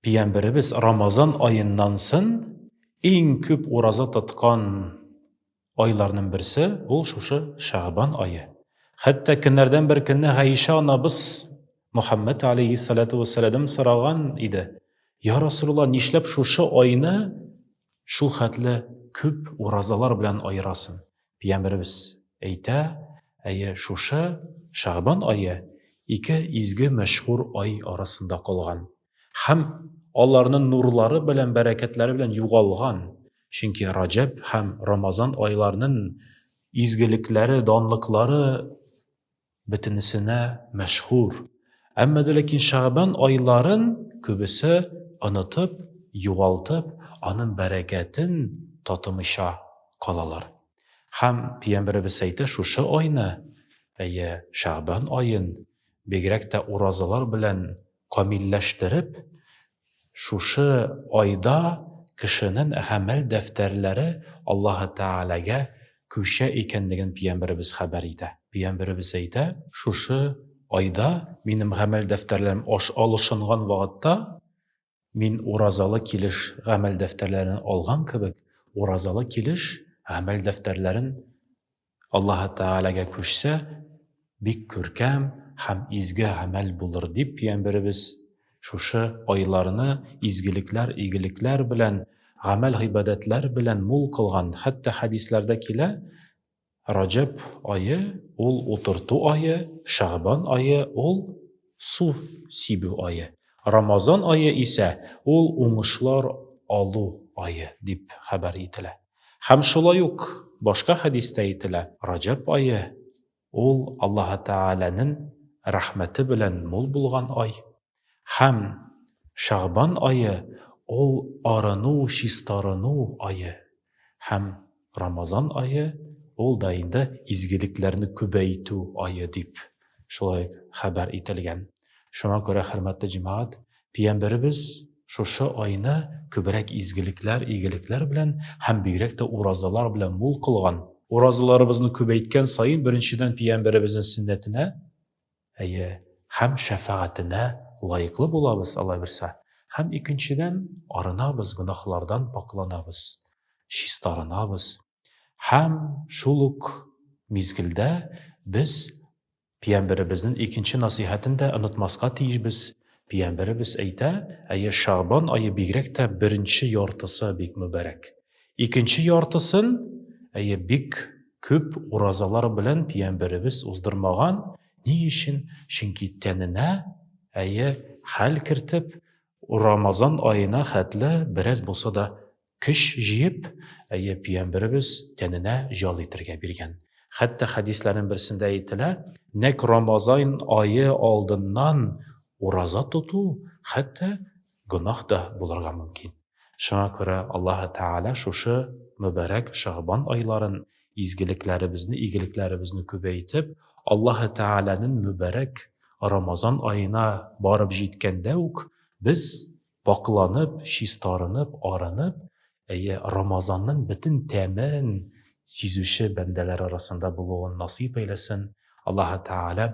Пиямберебез Рамазан аеннан сын иң күп ураза тоткан айларның берсе ул шушы Шәгъбан ае. Хәтта көннәрдән бер көнне Гайшә анабыз Мөхәммәд алейһиссалату вәссәләдәм сораган иде, Я Расулулла, нишләп шушы айны шул хәтле күп уразалар белән аерасың? Пиямберебез әйтә, әйе, шушы Шәгъбан ае ике изге мәшһүр ай арасында калган һәм аларнын нурлары белән, бәрәкәтләре белән югалган, чөнки Раҗәб һәм Рамазан айларнын изгелекләре, данлыклары Бөтенесенә мәшһүр. Әмма дә ләкин Шәгъбан айларын күбесе онытып, югалтып, аның бәрәкәтен татымыйча калалар. Һәм Пиямбәребез әйтә, шушы айны, әйе, Шәгъбан аен, бигрәк тә уразалар белән камилләштереп, Шушы айда кешенен гамәл дәфтәрләре Аллаһы Тәгаләгә күчә икәнлеген пиямберебез хәбәр итә. Пиямберебез әйтә. Шушы айда минем гамәл дәфтәрләрем аш алышынган вагытта, мин уразалы килеш гамәл дәфтәрләрен алган кебек, уразалы килеш гамәл дәфтәрләрен Аллаһы Тәгаләгә күчсә, бик күркәм һәм изге гамәл булыр дип, пиямберебез шушы айларны изгелекләр, игелекләр белән, гамәл-гыйбадәтләр белән мул кылган. Хәтта хәдисләрдә килә, Раҗәб ае, ул утырту ае, Шәгъбан ае, ул су сибү ае, Рамазан ае исә, ул уңышлар алу ае, дип хәбәр ителә. Һәм шулай ук башка хәдистә әйтелә, Раҗәб ае, ул Аллаһы Тәгаләнен рәхмәте белән мул булган ай, һәм Шәгъбан ае, ул арыну, чистарыну ае, һәм Рамазан ае, ул да инде изгелекләрне күбәйтү ае, дип шулай ук хәбәр ителгән. Шуңа күрә, хөрмәтле җәмәгать, пиямберебез шушы айны күбрәк изгелекләр, игелекләр белән һәм бигрәк тә уразалар белән мул кылган. Уразаларыбызны күбәйткән саен, беренчедән, пиямберебезнең сөннәтенә, әйе, һәм шәфәгатенә лаеклы булабыз, Алла бирсә, һәм, икенчедән, арынабыз, гөнаһлардан пакъланабыз, чистарынабыз. Һәм шул ук мизгелдә без пиямберебезнен икенче насыйхәтен дә онытмаска тиешбез. Пиямберебез әйтә, Әйе, Шәгъбан ае бигрәк тә беренче яртысы бик мөбарәк. Икенче яртысын, әйе, бик күп уразалар белән пиямберебез уздырмаган. Ни өчен? Чөнки тәненә, әйе, хәл кертеп, Рамазан аена хәтле бераз булса да Көч җыеп, әйе, пөйәмберебез тәненә җал итергә биргән. Хәтта хәдисләрнең берсендә әйтелә, нәкъ Рамазан ае алдыннан ураза тоту хәтта гөнаһ та булырга мөмкин. Шуңа күрә Аллаһы Тәгалә шушы мөбарәк Шәгъбан айларын изгелекләребезне, игелекләребезне күбәйтеп, Аллаһы Тәгаләнең мөбарәк Рамазан аена барып җиткәндә үк без Пакъланып, чистарынып, арынып, әйе, Рамазанның бөтен тәмен сизүче бәндәләр арасында булуын насыйп әйләсен, Аллаһы Тәгалә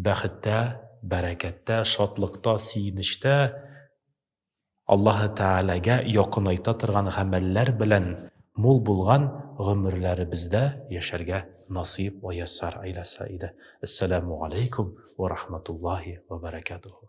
бәхеттә, бәрәкәттә, шатлыкта, сөенечтә Аллаһы Тәгаләгә якынайта торган гамәлләр белән мул булган гомерләребездә яшәргә насыйп вә яссар әйләсә иде. Әссәләмү галәйкүм вә рахматуллаһи вә бәрәкәтүһү.